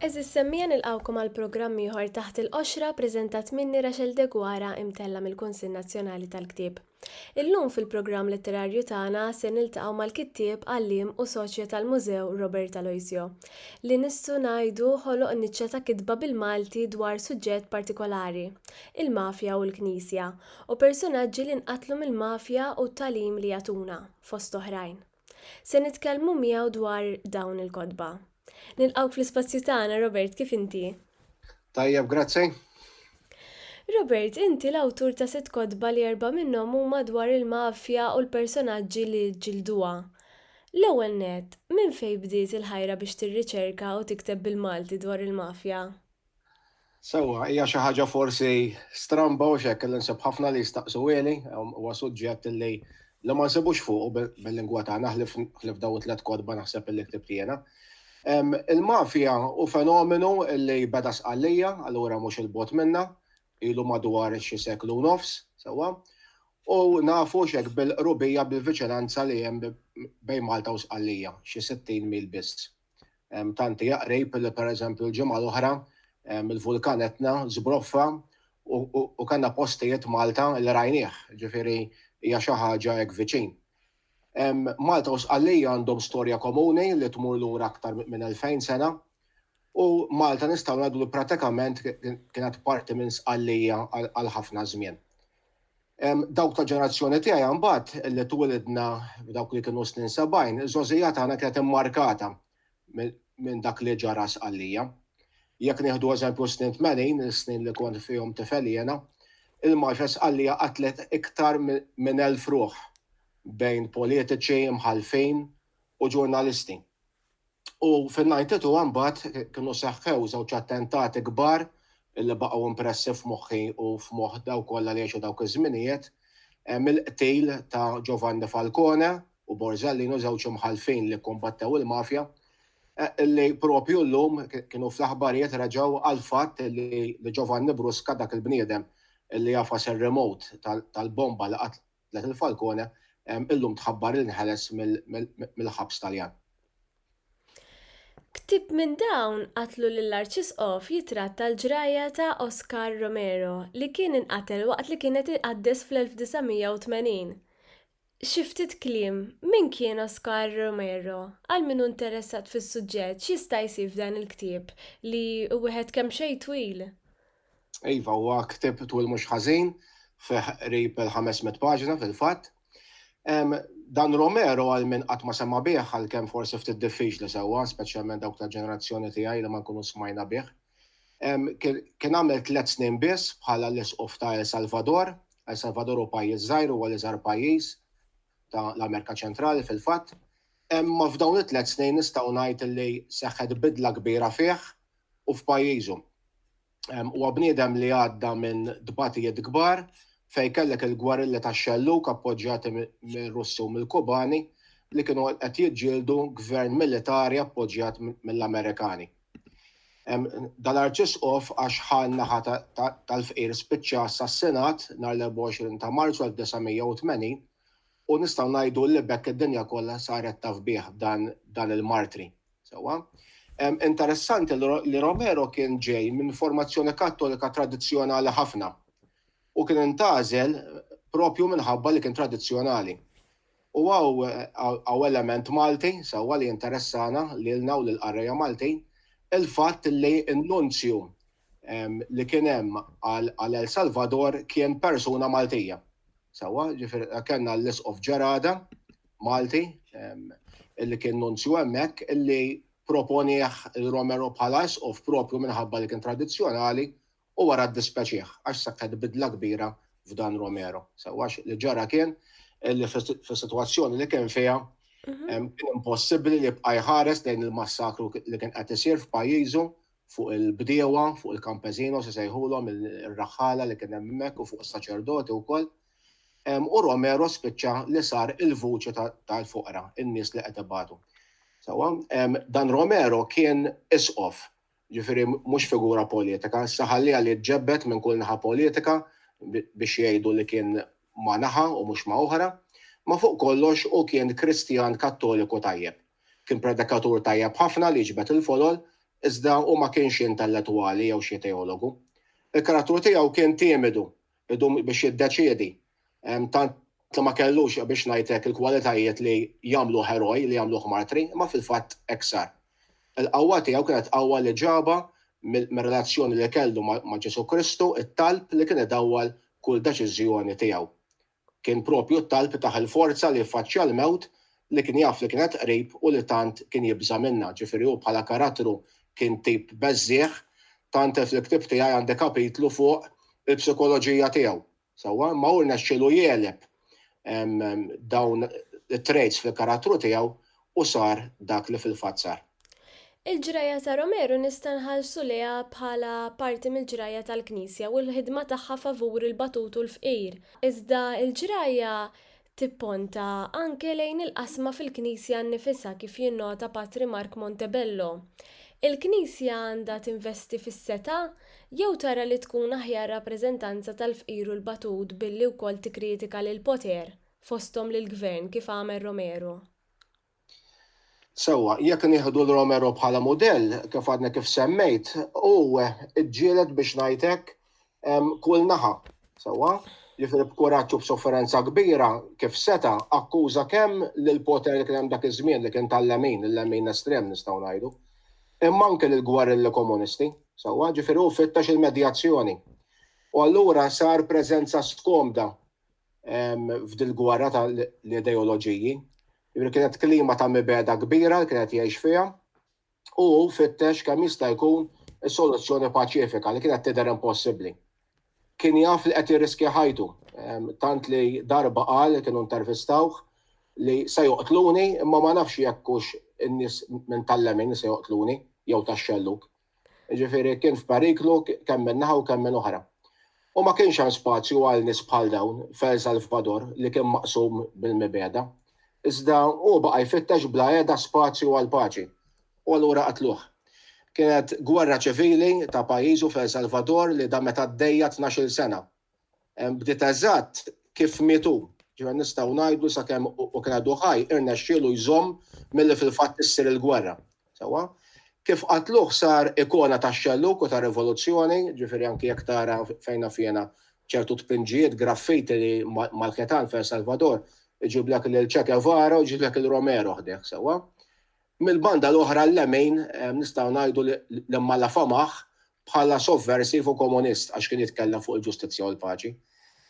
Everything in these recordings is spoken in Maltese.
Eżis semmija nilqawkom għal programm ieħor taħt il-qoxra preżentat minni Rachel Degwara imtella mill-Kunsill Nazzjonali tal-Ktieb. Illum fil-programm letterarju tagħna se niltaqgħu mal-kittieb, għalliem u soċja tal-Mużew Robert Aloisio, li nistgħu ngħidu ħoloq niċċa ta' kitba bil-Malti dwar suġġett partikolari, il-mafja u l-Knisja, u persunaġġi li nqatlu mill-mafja u t-tagħlim li jagħtuna, fost oħrajn. Se nitkellmu miegħu dwar dawn il-kotba. Nilqgħuk fl-ispazju tagħna, Robert, kif inti? Tajjeb, grazzi. Robert, inti l-awtur ta' sitt kotba li erba' minnhom huma dwar il-mafja u l-personaġġi li ġġilduha. L-ewwel nett, minn fejn bdiet il-ħajra biex tirriċerka u tikteb bil-Malti dwar il-mafja? Sewwa, hija xi ħaġa forsi stramba hux hekk li nsib ħafna li jistaqsuhieli, huwa suġġett li li ma nsibux fuqu bil-lingwa tagħna ħlief dawn it-tliet kotba naħseb li ktibt jiena. Il-mafja hu fenomenu li beda Sqallija, allura mhux 'il bogħod minnha, ilu madwar xi seklu u nofs, sewwa, u nafu hux hekk bil-qrubija bil-viċinanza li hemm bejn Malta u Sqallija, xi sittin mil biss. Tanti jaqrib li per eżempju l-ġimgħa l-oħra il-vulkan Etna zbroffa u kanna postijiet Malta li rajnieh, ġifiri hija xi ħaġa hekk viċin. Malta u Sqallija għandhom storja komuni li tmur lura aktar minn 2000 sena u Malta nistgħu ngħidu li pratikament kienet parti minn Sqallija għal ħafna żmien. Dawk tal-ġenerazzjoni tiegħi mbagħad li twilidna f'dawk li kienu snin sebgħin, iż-żgħożija tagħna kienet immarkata minn dak li ġara Sqallija. Jekk nieħdu eżempju s-snin tmenin, is-snin li kont fihom tifel jiena, il-Marċa Sqallija qatlet iktar minn elf ruħ bejn politiċi, imħallfin u ġurnalisti. U fin-92 mbagħad kienu seħħew żewġ attentati kbar li baqgħu impressi f'moħħi u f'moħħ dawk kollha li għexu dawk iż-żminijiet, mill-qtil ta' Giovanni Falcone u Borsellino, żewġ imħallfin li kkumbattew il-mafja, li proprju llum kienu fl-aħbarijiet reġgħu għall-fatt li Giovanni Brusca, dak il-bniedem li għafas ir-remote tal-bomba li qatlet Lenin Falcone, illum tħabbar li nħeles mill-ħabs Taljan. Ktieb minn dawn qatlu lill-Arċisqof jitratta l-ġrajja ta' Oscar Romero li kien inqatel waqt li kien qed iqaddes fl-1980. Xi ftit kliem, min kien Oscar Romero? Għal min hu interessat fis-suġġett x'jista' jsib f'dan il-ktieb li hu wieħed kemxejn twil? Iva, huwa ktieb twil mhux ħażin, fih qrib il-500 paġna fil-fatt. Dan Romero għal min qatt ma sema' bih għalkemm forsi ftit diffiċli sewwa, speċjalment dawk tal-ġenerazzjoni tiegħi li ma nkunu smajna bih. Kien għamel tliet snin biss bħala l-Isqof ta' El Salvador. El Salvador hu pajjiż żgħir, huwa l-iżgħar pajjiż ta' l-Amerika Ċentrali fil-fatt. Imma f'dawn it-tliet snin nistgħu ngħid li seħħet bidla kbira fih u f'pajjiżhom. Huwa bniedem li għadda minn tbatijiet kbar fejn kellek il-gwarilla tax-xellug appoġġjati mir-Russi u mill-Kubani li kienu qed jiġġieldu gvern militari appoġġjat mill-Amerikani. Dal-Arċisqof għax ħa n-naħa tal-fqir spiċċa assassinat nhar l-24 ta' Marzu 1980 u nistgħu ngħidu li b'hekk id-dinja kollha saret taf bih dan il-martri. Sewwa. Interessanti li Romero kien ġej minn formazzjoni Kattolika tradizzjonali ħafna u kien intgħażel proprju minħabba li kien tradizzjonali. U hawn element Malti, sewwa, li jinteressana lilna u lill-qarrejja Maltin, il-fatt li n-Nunzju li kien hemm għal El Salvador kien persuna Maltija. Sawa, ġifir, kena l-isqof ġerada, Malti, illi kien nunzju emmek, illi proponieħ il-Romero bħala isqof propju minħabba li kien tradizjonali u wara d-dispeċieħ, għax sakket bidla kbira f'dan Romero. Sawa, li ġara kien, illi f-situazzjoni li kien fija, mhm. kien impossibli li bqaj ħares lejn il-massakru li kien qed isir f'pajjiżu fuq il-bdiewa, fuq il-kampeżino se sejħulhom ir-raħħala li kien hemm hemmhekk u fuq is-saċerdoti wkoll. U Romero spiċċa li sar il-vuċi tal-foqra, in-nies li qed ibatu. Sewwa, dan Romero kien isqof, ġifieri mhux figura politika, issa ħalliha li tġebbed minn kull naħa politika biex jgħidu li kien ma' naħa u mhux ma' oħra, ma' fuq kollox hu kien Kristjan Kattoliku tajjeb. Kien predikatur tajjeb ħafna li jiġbed il-folol, iżda hu ma kienx xi intellettwali jew xi teologu. Il-karattru tiegħu kien timidu, idum biex jiddeċiedi, tant li ma kellux, biex ngħid hekk, il-kwalitajiet li jagħmluh eroj, li jagħmluh martri, imma fil-fatt hekk sar. Il-qawwa tiegħu kienet qawwa li ġabha mir-relazzjoni li kellu ma' Ġesù Kristu, it-talb li kien idawwal kull deċiżjoni tiegħu. Kien proprju t-talb tah il-forza li jiffaċċja l-mewt li kien jaf li kienet qrib u li tant kien jibża' minnha. Ġifieri hu bħala karattru kien tip beżżiegħ. Tant li fl-ktieb tiegħi għandi kapitlu fuq il-psikoloġija tiegħu. Sewwa? Imma hu rnexxielu jegħleb dawn it-traits fil-karattru tiegħu u sar dak li fil-fatt sar. Il-ġrajja ta' Romero nista' nħallsu lejha bħala parti mill-ġrajja tal-Knisja u l-ħidma tagħha favur il-batut u l-fqir, iżda l-ġrajja tipponta anke lejn il-qasma fil-Knisja nnifisha kif jinnota Patri Mark Montebello. Il-Knisja għandha tinvesti fis-setgħa jew tara li tkun aħjar rappreżentanza tal-fqir u l-batut billi wkoll tikkritika lill-poter? fosthom lill-Gvern kif għamel Romero. Sewwa, jekk nieħdu 'l Romero bħala mudell, kif għadni kif semmejt, hu ġġieled biex ngħid hekk kull naħa. Sewwa? Jiġifieri b'kuraġġ u b'sofferenza kbira kif seta' akkuża kemm lill-poter li kien hemm dak iż-żmien li kien tal-lemin, il-lemin estrem nistgħu ngħidu, imma anke lill-gwerilli komunisti. Sewwa? Jiġifieri hu fittex il-medjazzjoni. U allura sar preżenza skomda f'dil-gwerra tal-ideoloġiji. Jibri kienet klima ta' mibeda kbira li kienet jgħix fiha u fittex kemm jista' jkun is-soluzzjoni paċifika li kienet tidher impossibbli. Kien jaf li qed jirriskja ħajtu, tant li darba qal li kienu intervistawh li se joqtluni imma ma nafx jekk hux in-nies minn tal-lemin li se joqtluni jew tax-xellug. Jiġifieri kien f'periklu kemm minn naħa u kemm minn oħra. U ma kienx hemm spazju għal nies bħal dawn f'El Salvador li kien maqsum bil-mibegħda. Iżda hu baqa' jfittex bla heda spazju għall-paċi. U allura qatluh. Kienet gwerra ċivili ta' pajjiżu f'El Salvador li damet għaddejja tnax-il sena. Bdiet eżatt kif miet hu, ġifieri nistgħu ngħidu sakemm hu kien għadu ħaj irnexxielu jżomm milli fil-fatt issir il-gwerra. Sewwa? Kif qatluh sar ikona tax-xellug u tar-rivoluzzjoni, ġifieri anki jekk tara fejn naf jiena ċertu tpinġijiet, graffiti li mal-ħitan f'El Salvador iġiblek lil Che Guevara u jġiblek lil Romero ħdejh, sewwa? Mill-banda l-oħra l-Lemejn nistgħu ngħidu li l-Imalla famah bħala sovversiv u komunist għax kien jitkellem fuq il-ġustizzja u l-paċi.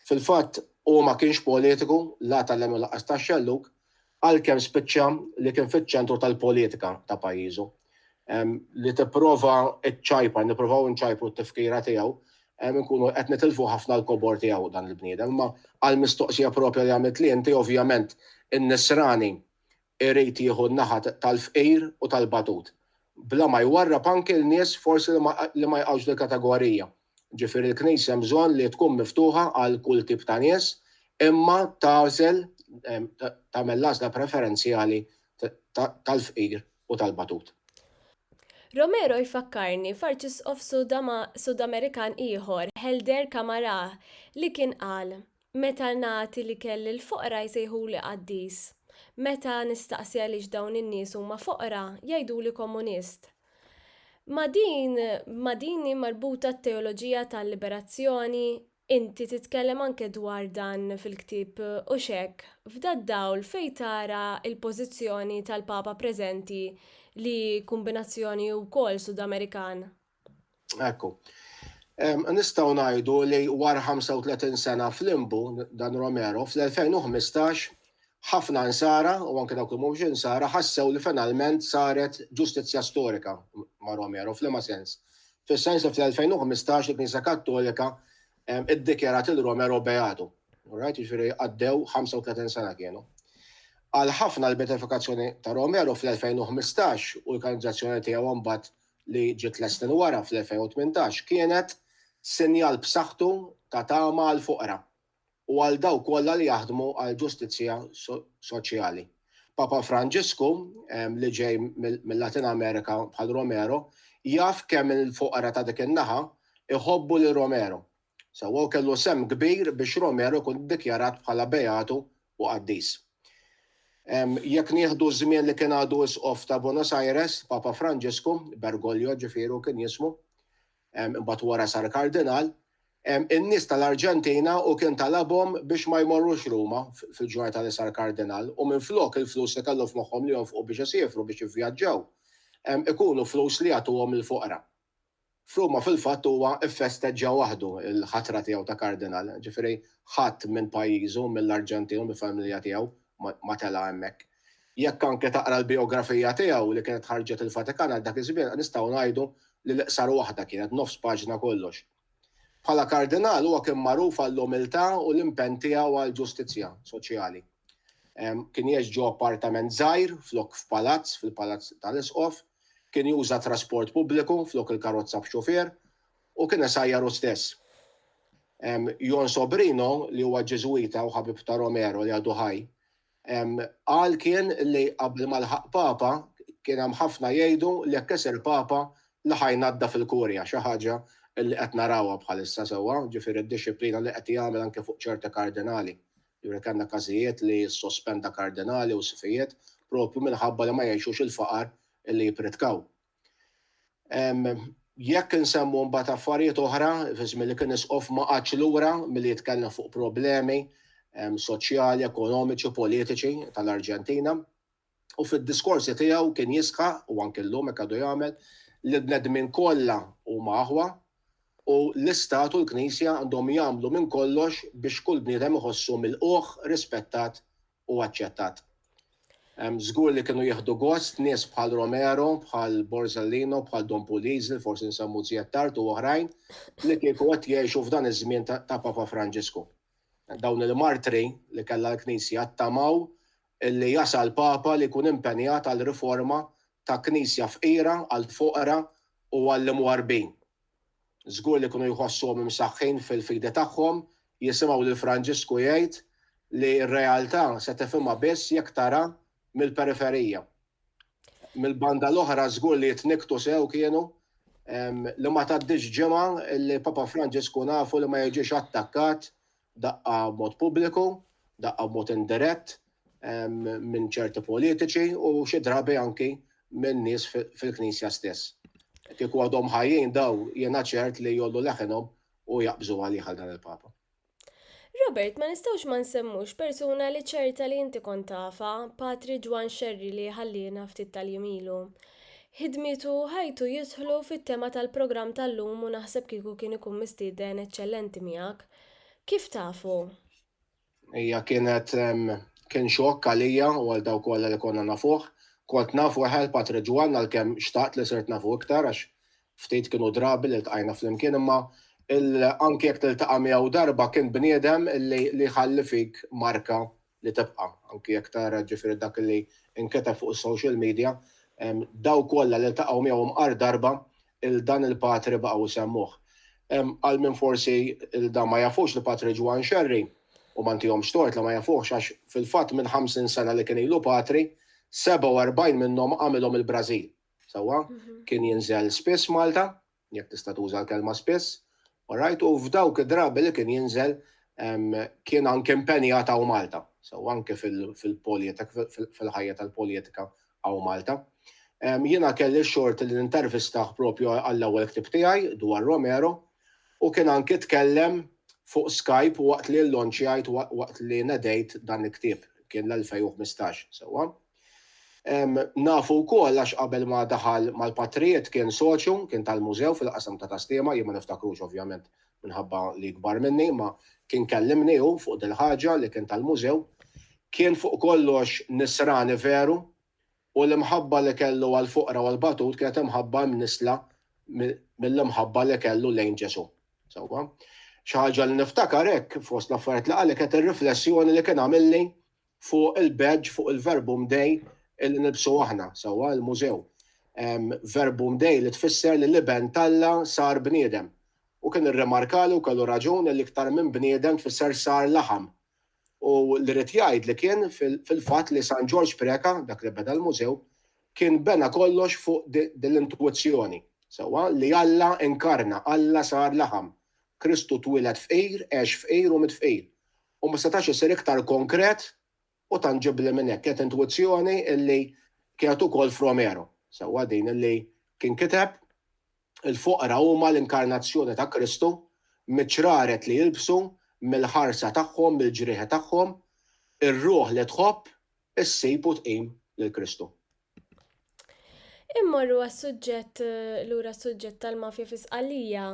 Fil-fatt hu ma kienx politiku la tal-Lemn u lanqas tax-Xellug għalkemm spiċċa li kien fiċ-ċentru tal-politika ta' pajjiżu. Li tipprova ċċajpar, nippruvaw inċajpru t-tifkira tiegħu, inkunu qed nitilfu ħafna l-kobor tiegħu dan il-bniedem. Imma għall-mistoqsija proprja li għamiltli inti ovvjament in-Nisrani Irid jieħu n-naħa tal-fqir u tal-batut, bla ma jwarrab anke l-nies forsi li ma jaqgħux fil-kategorija. Ġifieri l-Knisja hemm bżonn li tkun miftuħa għal kull tip ta' nies, imma tagħżel, tagħmel l-għażla preferenzjali tal-fqir u tal-batut. Romero jfakkarni f'Arċisqof Sudamerikan ieħor, Helder Camará, li kien qal, Meta nagħti l-ikel lill-foqra jsejħuli qaddis. Meta nistaqsi għaliex dawn in-nies huma foqra, jgħiduli komunist. Ma' din ma' din hi marbuta t-teoloġija tal-liberazzjoni? Inti titkellem anke dwar dan fil-ktieb hux hekk? F'dad-dawl fejn tara l-pożizzjoni tal-Papa preżenti li kumbinazzjoni hu wkoll Sud-Amerikan? Ekku. Nistgħu ngħidu li wara 35 sena flimbu dan Romero fl-2015 ħafna insara u anke dawk li mhumiex insara ħassew li finalment saret ġustizzja storika ma' Romero f'liema sens. Fis-sens li fl-2015 il-Knisja Kattolika iddikjarat il Romero beatu. Right, jiġifieri għaddew 35 sena kienu. Għal ħafna l-beatifikazzjoni ta' Romero fl-2015 u l-kanizzazzjoni tiegħu mbagħad li ġiet tliet snin wara fl-2018 kienet sinjal b'saħħtu ta' tama għall-foqra u għal dawk kollha li jaħdmu għal ġustizzja soċjali. Papa Franġisku, li ġej mil-Latin Amerika bħal Romero, jaf kemm il-foqra ta' dik in-naħa jħobbu lil Romero Sewwa u kellu sehem kbir biex Romero jkun iddikjarat bħala beatu u qaddis. Jekk nieħdu ż-żmien li kien għadu Isqof ta' Buenos Aires, Papa Franġisku, Bergoglio ġifieri hu kien jismu, imbagħad wara sar Kardinal, in-nies tal-Arġentina hu kien talabhom biex ma jmorrux Ruma fil-ġurnata li sar Kardinal u minflok il-flus li kellu f'moħħhom li jonfqu biex isiefru biex jivvjaġġaw, ikunu flus li jagħtuhom lill-foqra. F'Ruma fil-fatt huwa ffesteġġa waħdu l-ħatra tiegħu ta' Kardinal, ġifieri ħadd minn pajjiżu, mill-Arġentin, mill-familja tiegħu ma tela' hemmhekk. Jekk anke taqra l-bijografija tiegħu li kienet ħarġet il-Vatikan għal dak iż-żmien nistgħu ngħidu li l-iqsar waħda kienet, nofs paġna kollox. Bħala Kardinal huwa kien magħruf għall-umiltà u l-impenn tiegħu għall-ġustizzja soċjali. Kien jgħix ġo appartament żgħir flok f'palazz fil-palazz tal-Isqof, kien juża trasport pubbliku flok il-karozza b'xufier, u kien isajjar hu stess. Jon Sobrino, li huwa Ġiżwita u ħabib ta' Romero li għadu ħaj, Qal kien li qabel ma lħaq Papa kien hemm ħafna jgħidu li jekk isir Papa la ħa jnaddaf il-Kurja, xi ħaġa li qed narawha bħalissa sewwa, ġifieri d-dixxiplina li qed jagħmel anke fuq ċerti kardinali. Ġifieri kellna każijiet li ssospenda kardinali u sfijiet propju minħabba li ma jgħixux il-faqar li jippritkaw. Jekk insemmu mbagħad affarijiet oħra, fi żmien li kien isqof ma qagħadx lura milli jitkellem fuq problemi soċjali, ekonomiċi, politiċi tal-Arġentina. U fid-diskorsi tiegħu kien jisħaq, u anke llum hekk għadu jagħmel, li l-bnedmin kollha huma aħwa u l-Istat u l-Knisja għandhom jagħmlu minn kollox biex kull bniedem iħossu milqugħ, rispettat u aċċettat. Żgur li kienu jieħdu gost nies bħal Romero, bħal Borzellino, bħal Don Puliz li forsi nsemmu żjed tard u oħrajn li kieku qed jgħixu f'dan iż-żmien ta' Papa Franġisku. Dawn il-martri li kellha l-Knisja ttamaw li jasal Papa li jkun impenjat għal riforma ta' Knisja fqira għall-foqra u għall-imwarbin. Żgur li kienu jħossuhom imsaħħin fil-fidi tagħhom jisimgħu lil Franġisku jgħid li r-realtà se tifhimha biss jekk tara mill-periferija. Mill-banda l-oħra żgur li jitnikktu sew kienu li ma tgħaddix ġimgħa li Papa Franġisku nafu li ma jiġix attakkat daqqa b'mod pubbliku, daqqa b'mod indirett minn ċerti politiċi u xi drabi anki minn nies fil-Knisja stess. Kieku għadhom ħajjin daw jiena ċert li jollu leħinhom u jaqbżu għalih għal dan il-Papa. Robert, ma nistgħux ma nsemmux persuna li ċerta li inti kont tafa, Patri Ġwan Xerri li ħalliena ftit tal-jimilu. Hidmitu ħajtu jidħlu fit-tema tal-programm tal-lum u naħseb kieku kien ikun mistieden eċċellenti miegħek. Kif tafu? Hija kienet kien xokk għalija u għal dawk kollha li konna nafuh. Kont naf weħel Patri Ġwann għalkemm xtaqt li sirt nafu iktar għax ftit kienu drabi li ltqajna flimkien imma anki jekk tiltaqa' miegħu darba kien bniedem li jħalli fik marka li tibqa' anki jekk tara ġifieri dak li nketeb fuq is-social media, dawk kollha li ltaqgħu miegħu mqar darba 'l dan il-patri baqgħu jsemmuh. Għal min forsi 'l dan ma jafux l-Patri Ġwann Xerri, u ma ntihomx tort li ma jafuhx għax fil-fatt minn 50 sena li kien ilu patri, 47 minnhom għamilhom il-Brażil. Sewwa? Kien jinżel spiss Malta, jekk tista' tuża l-kelma spiss, orajt, u f'dawk id-drabi li kien jinżel kien anke impenjat hawn Malta, so anke fil-politik, fil-ħajja tal-politika hawn Malta. Jiena kelli x-xort li nintervistah propju għall-ewwel ktieb tiegħi dwar Romero u kien anke tkellem fuq Skype waqt li llonċjajt waqt li nedejt dan il-ktieb, kien l-2015, sewwa. Nafu wkoll għax qabel ma daħal mal-Patrijiet kien soċju, kien tal-Mużew fil-qasam ta' Tastema, jien ma niftakrux ovvjament minħabba li kbar minni, imma kien kellimni hu fuq dil-ħaġa li kien tal-Mużew. Kien fuq kollox Nisrani veru u l-imħabba li kellu għall-foqra u għall-batut kienet imħabba imnissla mill-imħabba li kellu lejn Ġesù. Sewwa? Xi ħaġa li niftakar hekk fost l-affarijiet li qal li kienet ir-riflessjoni li kien għamilli fuq il-badge, fuq il-Verbum Dei li nilbsu aħna, sewwa, il-Mużew. Verbum Dei li tfisser li l-Iben t'Alla sar bniedem. U kien irrimarkali u kellu raġun li iktar minn bniedem tfisser sar laħam. U li ried jgħid li kien fil-fatt li San Ġorġ Preca, dak li beda l-Mużew, kien bena kollox fuq din l-intuwizzjoni, sewwa, li Alla inkarna, Alla sar laħam. Kristu twieled fqir, għex fqir u miet fqir. u ma setax isir iktar konkret u tanġibbli minn hekk. Kienet intwizzjoni li kienet ukoll f'Romero, sewwa din illi kien kiteb, Il-foqra huma l-inkarnazzjoni ta' Kristu, miċ-ċraret li jilbsu, mill-ħarsa tagħhom, mill-ġrieħi tagħhom, ir-ruħ li tħobb, Issib u tqim lil Kristu. Immorru għas-suġġett lura s-suġġett tal-mafja fi Sqallija.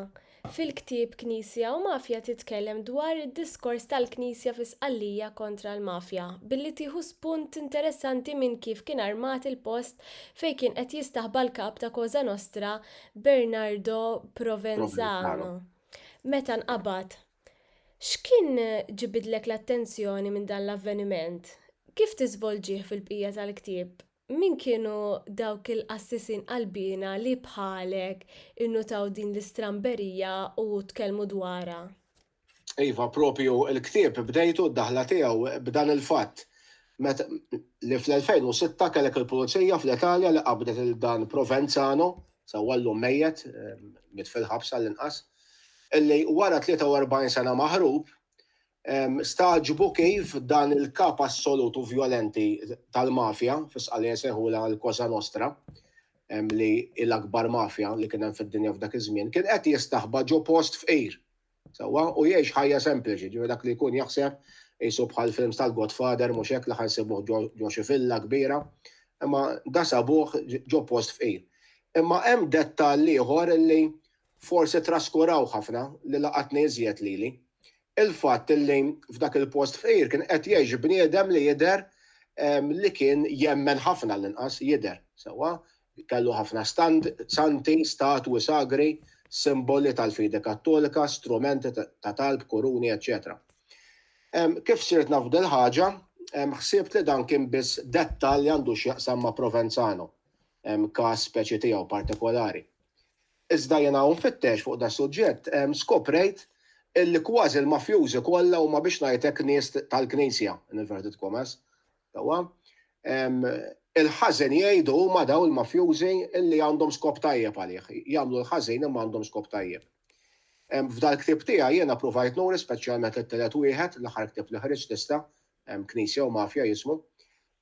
Fil-ktieb Knisja u Mafja titkellem dwar id-diskors tal-Knisja fi Sqallija kontra l-mafja, billi tieħu spunt interessanti minn kif kien armat il-post fejn kien qed jistaħba l-kap ta' Cosa Nostra Bernardo Provenzano meta nqabad. X'kien ġibidlek l-attenzjoni minn dan l-avveniment? Kif tiżvolġih fil-bqija tal-ktieb? Min kienu dawk il-qassisin qalbiena li bħalek innutaw din l-istramberija u tkellmu dwarha? Iva, proprju l-ktieb bdejtu d-daħla tiegħu b'dan il-fatt, li fl-2006 kellek il-pulizija fl-Italja li qabdet lil dan Provenzano, Sewwa llum mejjet, miet fil-ħabs għall-inqas, li wara 43 sena maħrub, stagħġbu kif dan il-kap assolut u vjolenti tal-mafja, fi Sqallija jsejħulha l-Cosa Nostra, li hi l-akbar mafja li kien hemm fid-dinja f'dak iż-żmien, kien qed jistaħba ġo post fqir. Sewwa, u jgħix ħajja sempliċi, ġifieri dak li jkun jaħseb qisu bħal films tal-Godfather mhux hekk li ħa nsibuh ġo xi villa kbira, imma da sabuh ġo post fqir. Imma hemm dettall ieħor li forsi traskuraw ħafna li laqatni iżjed lili. Il-fatt li f'dak il-post fqir kien qed jgħix bniedem li jidher li kien jemmen ħafna l-inqas jidher, sewwa, Kellu ħafna santi, statwi sagri, simboli tal-fidi Kattolika, strumenti ta' talb, kuruni, eċċetera Kif sirt naf dil-ħaġa, ħsibt li dan kien biss dettall li għandu x'jaqsam ma' Provenzano, każ speċi tiegħu partikolari. Iżda jiena hawn nfittex fuq das-suġġett, skoprejt illi kważi l-mafjużi kollha huma biex ngħidlek nies tal-Knisja, in inverted commas, Sewwa? Il-ħażen jgħidu huma dawn il-mafjużi li għandhom skop tajjeb għalih. Jagħmlu l-ħażin imma għandhom skop tajjeb. F'dal-ktieb tiegħi jiena pruvajt nuri speċjalment it-tielet wieħed, l-aħħar ktieb li ħriġt issa, Knisja u Mafja jismu,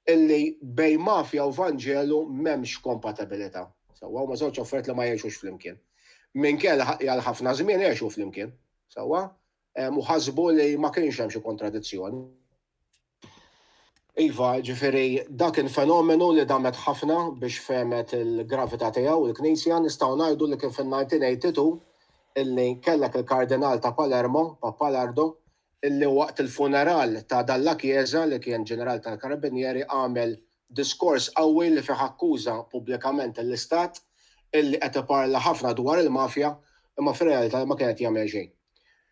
illi bejn mafja u Vanġelu m'hemmx kompatibilità. Sewwa? Huma żewġ affarijiet li ma jgħixux flimkien. Minkejja li għal ħafna żmien għexu flimkien. Sewwa? U ħasbu li ma kienx hemm xi kontradizzjoni. Iva, ġifieri dak kien fenomenu li damet ħafna biex fehmet il-gravità tiegħu l-Knisja, nistgħu ngħidu li kien fin-1982 illi kellek il-Kardinal ta' Palermo, Pappalardo, illi waqt il-funeral ta' dan l-Akieza li kien Ġeneral tal-Karabinieri għamel Diskors qawwi li fih akkuża pubblikament lill-Istat illi qed iparla ħafna dwar il-mafja imma fir-realtà li ma kien qed jagħmel xejn.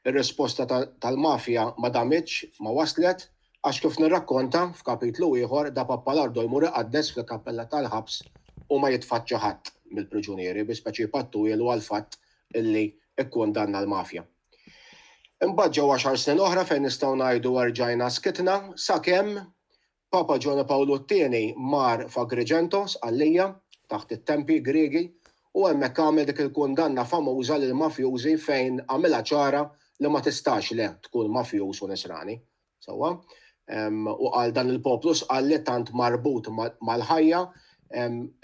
Ir-risposta tal-mafja ma damitx, ma waslet, għax kif nirrakkonta f'kapitlu ieħor da Pappalardo jmur iqaddes fil-kappella tal-ħabs u ma jitfaċċa ħadd mill-priġunieri bi speċi pattuilu għall-fatt illi kkundanna l-mafja. Imbagħad ġew għaxar snin oħra fejn nistgħu ngħidu erġajna skitna sakemm Papa Ġwann Pawlu t-Tieni mar f'Agrigento, Sqallija, taħt it-tempi Griegi, u hemmhekk għamel dik il-kundanna famuża lill-mafjużi fejn għamilha ċara li ma tistax le tkun mafjuż u Nisrani. Sewwa? U qal dan il-poplu Sqalli tant marbut mal-ħajja,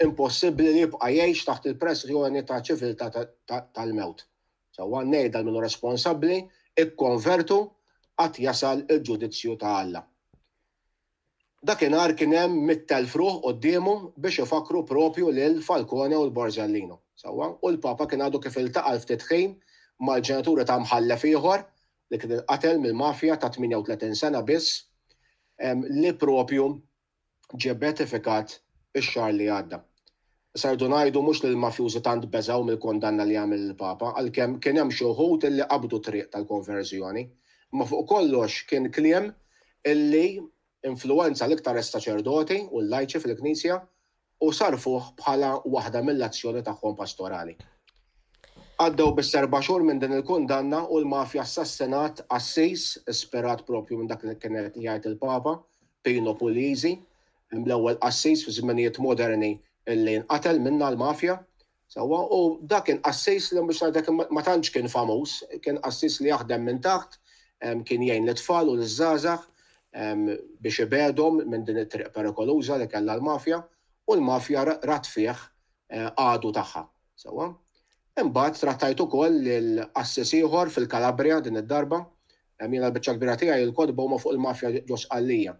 impossibbli li jibqa' jgħix taħt il-pressjoni ta' ċiviltà tal-mewt. Sewwa ngħidha lil min hu responsabbli, Ikkonvertu, għad jasal il-ġudizzju ta' Alla. Dakinhar kien hemm mitt elf ruħ quddiemu biex ifakkru proprju lil Falcone u 'l Borsellino. Sewwa, u l-Papa kien għadu kif iltaqa' l-ftit ħin mal-ġenituri ta' mħallef ieħor li kien inqatel mill-mafja ta' 38 sena biss li proprju ġie beatifikat ix-xahar li għadda. Issa rridu ngħidu mhux li l-mafjużi tant beżgħu mill-kundanna li għamel il-Papa, għalkemm kien hemm xi wħud li qabdu t-triq tal-konverżjoni. Imma fuq kollox kien kliem li influwenza l-iktar is-saċerdoti u l-lajċi fil-Knisja u sarrfuh bħala waħda mill-azzjoni tagħhom pastorali. Għaddew biss erba' xhur minn din il-kundanna u l-Mafja assassinat qassis ispirat proprju minn dak li kien qed jgħid il-Papa, Pino Puglisi, l-ewwel qassis fi żminijiet moderni li nqatel minnha l-Mafja, Sewwa, u dak kien qassis li biex ngħidlek ma tantx kien famuż, kien qassis li jaħdem minn taħt, kien jgħin lit-tfal u liż-żgħażagħ biex ibegħdhom minn din it-triq perikoluża li kellha l-mafja, u l-mafja rat fih għadu tagħha. Sewwa. Imbagħad trattajt ukoll lil qassis ieħor fil-Kalabrija din id-darba, Jiena l-biċċa l-kbira tiegħi l-kotba huma fuq il-mafja ġo Sqallija.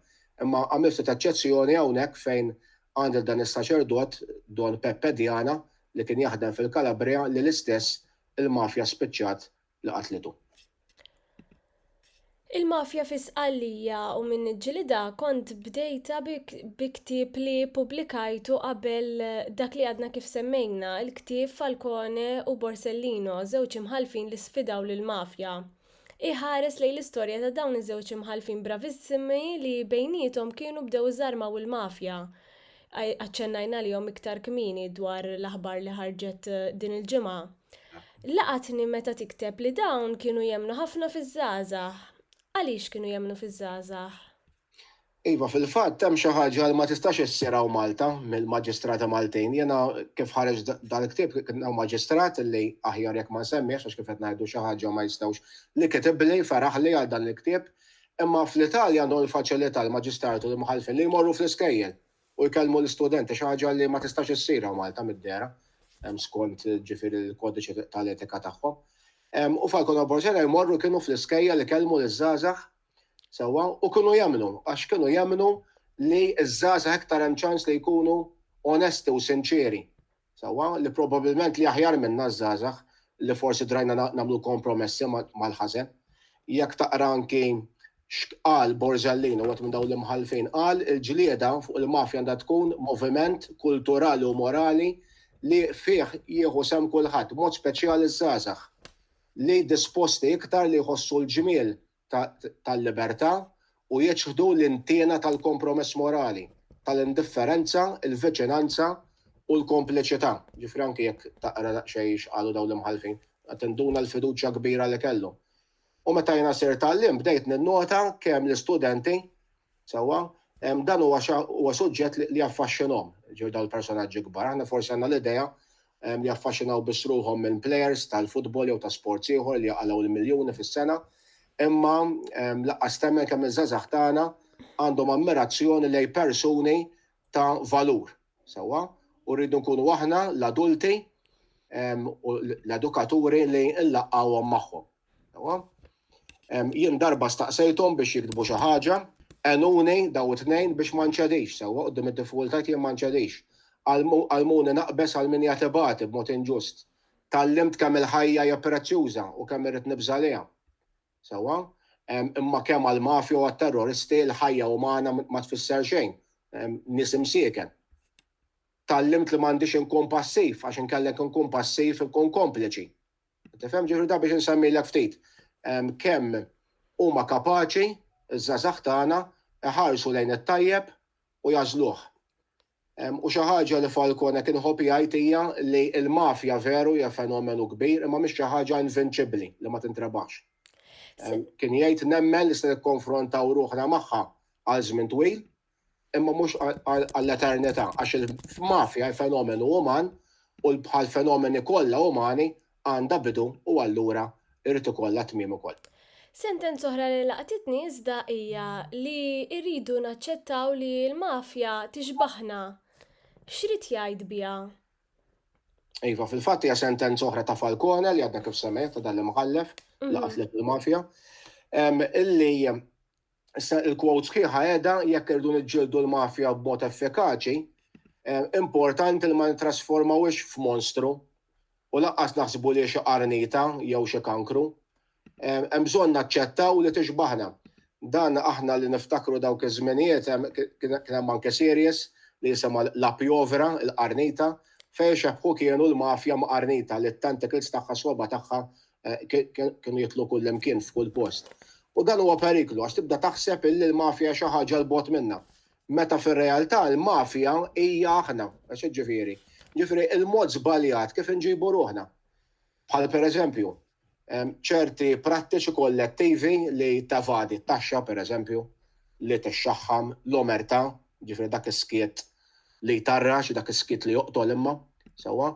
Imma għamilt ftit eċċezzjoni hawnhekk fejn għand lil dan is-saċerdot, Don Peppe Diana, li kien jaħdem fil-Calabria li l-istess il-mafja spiċċat li qatlitu. Il-mafja fi Sqallija u min niġġilidha kont bdejtha bi ktieb li ppubblikajtu qabel dak li għadna kif semmejna, il-ktieb Falcone u Borsellino, żewġ imħallfin li sfidaw lill-mafja. Iħares lejn l-istorja ta' dawn iż-żewġ imħallfin bravissimi li bejniethom kienu bdew iżarmaw il-mafja. Aċċennajna għalihom iktar kmieni dwar l-aħbar li ħarġet din il-ġimgħa. Laqatni meta tikteb li dawn kienu jemmnu ħafna fiż-żgħażagħ. Għaliex kienu jemmnu fiż-żgħażagħ? Iva, fil-fatt hemm xi ħaġa li ma tistax issir hawn Malta mill-maġistrati Maltin. Jiena kif ħareġ dal-ktieb kien hawn maġistrat li aħjar jekk ma nsemmihx għax kif qed ngħidu xi ħaġa ma jistgħux li kitibli, feraħli għal dan il-ktieb. Imma fl-Italja għandhom il-faċilità l-maġistrati u l-imħallfin li jmorru fl-iskejjel u jkellmu l-istudenti, xi ħaġa li ma tistax issir hawn Malta mid-dehra skont ġifieri l-kodiċi tal-etika tagħhom. U f'għal-kollaborazzjoni jmorru kienu fl-iskejjel ikellmu liż-żgħażagħ Sewwa, u kienu jemmnu, għax kienu jemmnu li ż-żgħażagħ iktar hemm ċans li jkunu onesti u sinċieri. Sewwa, li probabilment li aħjar minna ż-żgħażagħ li forsi drajna nagħmlu kompromessi mal-ħażen. Jekk taqra anki x'qal Borsellino, wieħed minn dawn l-imħallfin, qal il-ġlieda fuq il-mafja għandha tkun moviment kulturali u morali li fih jieħu sehem kulħadd, b'mod speċjali ż-żgħażagħ. li disposti iktar li jħossu l-ġmiel tal-libertà u jiċħdu l-intiena tal-kompromess morali, tal-indifferenza, il-viċinanza u l-kompliċità. Jiġifieri anki jekk taqra daqsxejn x'qalu dawn l-imħallfin, tinduna l-fiduċja kbira li kellhom. U meta jiena sirt għalliem bdejt ninnota kemm l-istudenti Sewwa? Dan huwa huwa suġġett li jaffaxxinhom, ġifieri dawn il-personaġġi kbar. Aħna forsi għandna l-idea li jaffaxxinaw biss ruħhom minn plejers tal-futbol jew ta' sports ieħor li jaqalgħu l-miljuni fis-sena, imma lanqas temmen kemm iż-żgħażagħ tagħna għandhom ammirazzjoni lejn persuni ta' valur. Sewwa? U rridu nkunu aħna l-adulti u l-edukaturi li nlaqgħuhom magħhom. Jien darba staqsejthom biex jiktbu xi ħaġa, għenuni daw it-tnejn biex ma nċedix sewwa quddiem id-diffikultajt jien ma nċedix. Għallmuni naqbeż għal min jagħti bagħti b'mod inġust. Tgħallimt kemm il-ħajja hija prezzjuża u kemm irrid nibża' għaliha. Sewwa? Imma kemm għall-mafja u għat-terroristi l-ħajja umana ma tfisser xejn. Nies imsieken. Tgħallimt li m'għandix inkun passiv għax inkellek inkun passiv inkun kompliċi. Tifhem ġifieri da biex insemmilek ftit kemm huma kapaċi ż-żgħażagħ tagħna jħarsu lejn it-tajjeb u jagħżluh. U xi ħaġa li Falcone kien iħobb jgħid hija li l-mafja veru hija fenomenu kbir imma mhix xi ħaġa invinċibbli li ma tintrebaħx. Kien jgħid nemmen li se nikkonfrontaw ruħna magħha għal żmien twil, imma mhux għall-eternità, għax il-mafja hi fenomenu uman u bħall-fenomeni kollha umani għandha bidu u allura jrid ikollha tmiem ukoll. Sentenza oħra li laqtitni iżda hija li rridu naċċettaw li l-mafja tixbaħna. X'ried jgħid biha? Iva, fil-fatt hija sentenza oħra ta' Falcone li għadna kif semmejt ta' dan l-imħallef li qatlet il-mafja. Illi Issa il-quote sħiħa qiegħda jekk irridu niġġieldu l-mafja b'mod effikaċi, importanti li ma nittrasformawhiex f'monstru u lanqas naħsbu li hi xi qarnita jew xi kankru. Hemm bżonn naċċettaw li tixbaħna. Dan aħna li niftakru dawk iż-żminijiet kien hemm anke series li jisimha La Piovra, il-Qarnita, fejn ixebbħu kienu l-mafja ma' qarnita li t-tentacles tagħha, s-swaba' tagħha kienu jitlu kullimkien f'kull post. U dan huwa periklu għax tibda taħseb illi l-mafja hija xi ħaġa 'l bogħod minna. Meta fir-realtà l-mafja hija aħna. Għax hekk ġifieri? Ġifieri l-mod żbaljat kif inġibu ruħna. Bħal pereżempju, ċerti prattiċi kollettivi li tevadi t-taxxa pereżempju, li tixxaħħam, l-omertà, ġifieri dak is-skiet li jtarrax, dak is-skiet li joqtol imma, sewwa,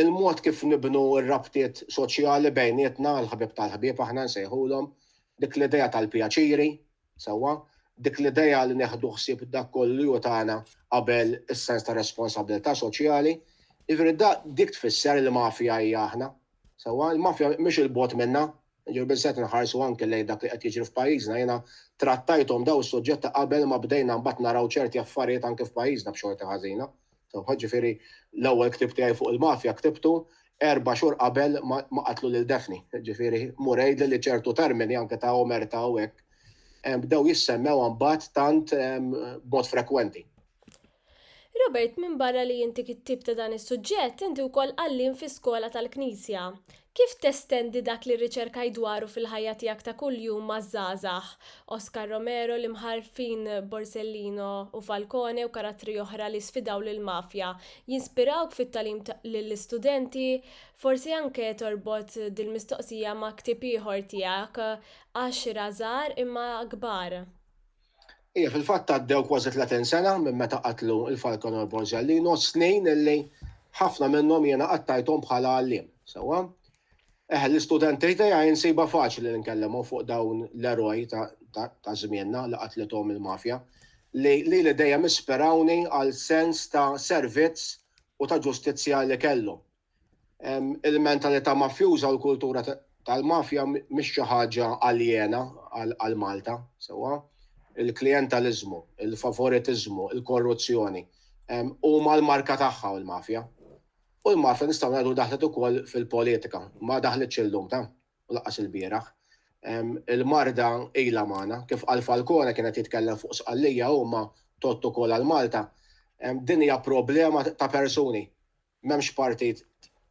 il-mod kif nibnu r-rabtiet soċjali bejnietna, il-ħbieb tal-ħbieb aħna nsejħulhom, dik l-idea tal-pjaċiri, sewwa, dik l-idea li neħdu ħsieb dak kollu li hu tagħna qabel is-sens ta' responsabbiltà soċjali. Jiġifieri dik tfisser il-mafja hija aħna, sewwa, il-mafja mhix 'il bogħod minnha, Ġew biżżejjed inħarsu anke lejn dak li qed jiġri f'pajjiżna. Jiena trattajthom dawn is-suġġetti qabel ma bdejna mbagħad naraw ċerti affarijiet anke f'pajjiżna b'xorti ħażina. Jiġifieri l-ewwel ktieb tiegħi fuq il-mafja ktibtu erba' xhur qabel ma qatlu lil Daphne. Jiġifieri mur għidli li ċertu termini anke ta' omertà u hekk bdew jissemmew imbagħad tant b'mod frekwenti. Robert, minbarra li inti kittieb ta' dan is-suġġett, inti wkoll għalliem fi skola tal-Knisja. Kif testendi dak li rriċerkajt dwaru fil-ħajja tiegħek ta' kuljum maż-żgħażagħ? Oscar Romero, l-Imħallfin Borsellino u Falcone u karattri oħra li sfidaw lill-mafja jinspirawk fit-tagħlim lill-istudenti? Forsi anke torbot dil-mistoqsija ma' ktieb ieħor tiegħek, Għaxra żgħar imma kbar. Ija, fil-fatt għaddew kważi 30 sena minn meta qatlu il-Falconor Borzellino, snin illi ħafna minnhom jiena qattajthom bħala għallim, sewwa? Eh, l-istudenti tiegħi jinsiba faċli li nkellemu fuq dawn l-eroj ta' żmienna li qatlitom il-mafja li li li dejjem isperawni għal sens ta' servizz u ta' ġustizzja li kellu. Il-mentalità mafjuża u l-kultura tal-mafja mhix xi ħaġa aljena għal Malta, sewwa. Il-klijentaliżmu, il-favoritiżmu, il-korruzzjoni huma l-marka tagħha u l-mafja. U l-mafja nistgħu ngħidu li daħlet ukoll fil-politika, ma daħlitx illum ta', u lanqas ilbieraħ. Il-marda ilha magħna, kif qal Falcone kien qed jitkellem fuq Sqallija hu ma' tott ukoll għal Malta. Din hija problema ta' persuni. M'hemmx parti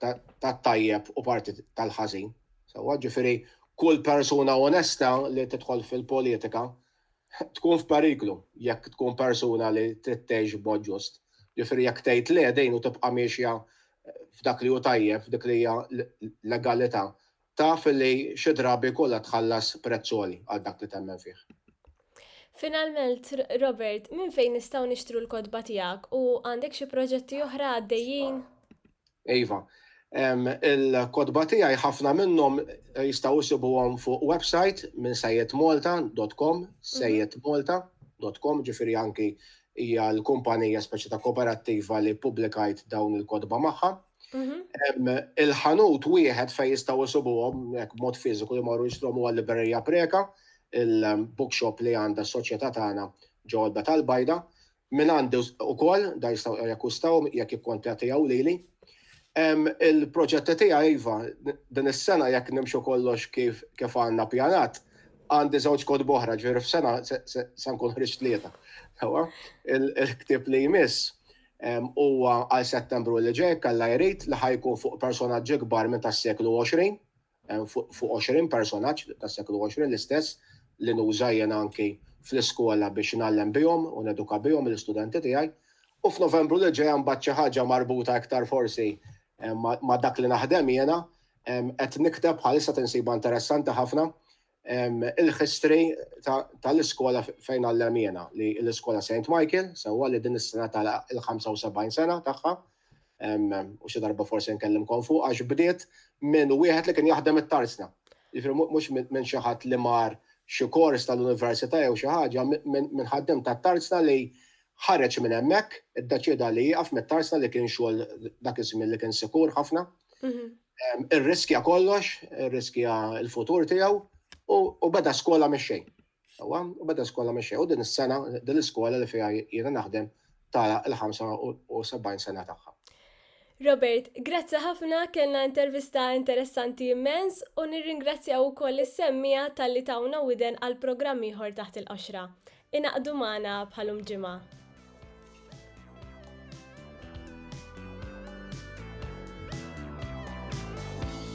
tat-tajjeb u parti tal-ħażin, sewwa? Ġifieri kull persuna onesta li tidħol fil-politika tkun f'periklu jekk tkun persuna li trid tgħix b'mod ġust. Ġifieri jekk tgħid le din u tibqa' miexja f'dak li hu tajjeb, f'dik li hija l-legalità, Taf li xi drabi jkollha tħallas prezz għoli għal dak li temmen fih. Finalment, Robert, minn fejn nistgħu nixtru l-kotba tiegħek u għandek xi proġetti oħra għaddejjin? Iva, il-kotba tiegħi ħafna minnhom jistgħu jsibuhom fuq website minn sejjedmalta.com, sejjedmalta.com, ġifieri anki hija l-kumpanija speċi ta' kooperattiva li ppubblikajt dawn il-kotba magħha. Mhm. Il-ħanut wieħed fej jistaw jisubuhom hekk mod fiżiku li marru jixtrom huwa l-Liberija Preka, il-bookshop li għandha s-soċjetà tagħna ġodda tal-bajda, minn għandi ukoll da jistgħu jakkustaw jekk ikkontattjaw lili. Il-proġetti tiegħi iva, din is-sena jekk nimxu kollox kif kif għandna pjanat, għandi żewġ kod boħra ġifieri f'sena se nkun ħriġt tlieta. Il-ktieb li jmiss Huwa għal Settembru li ġej, jekk Alla jrid, li ħa jkun fuq personaġġi kbar minn tas-seklu 20, fuq 20 personaġġ tas-seklu 20 l-istess li nuża jien anki fl-iskola biex ngħallem bihom u neduka bihom lill-istudenti tiegħi. U f'Novembru li ġej mbagħad xi ħaġa marbuta iktar forsi ma' dak li naħdem jiena, qed nikteb bħalissa tinsibha interessanti ħafna, il-history tal-iskola fejn għallem jiena, li l-iskola St. Michael, sewwa li din is-sena tagħlaq il-75 sena tagħha, u xi darba forsi nkellimkom fuq għax bdiet minn wieħed li kien jaħdem it-tarzna. Jiġifieri mhux minn xi ħadd li mar xi kors tal-università jew xi ħaġa, minn ħaddiem tat-tarzna li Ħareġ minn hemmhekk, iddeċieda li jieqaf mit-tarzna li kien xogħol dak iż-żmien li kien sikur ħafna. Irriskja kollox, irriskja l-futur tiegħu u beda skola mix-xejn. Sewwa, u beda skola mix-xejn. U din is-sena, din l-iskola li fiha jiena naħdem tara l-75 sena tagħha. Robert, grazzi ħafna, kellna intervista interessanti immens u nirringrazzjaw ukoll lis-semmiegħa talli tawna widen għal programm ieħor Taħt il-Qoxra. Ingħaqdu magħna bħalhom ġimgħa.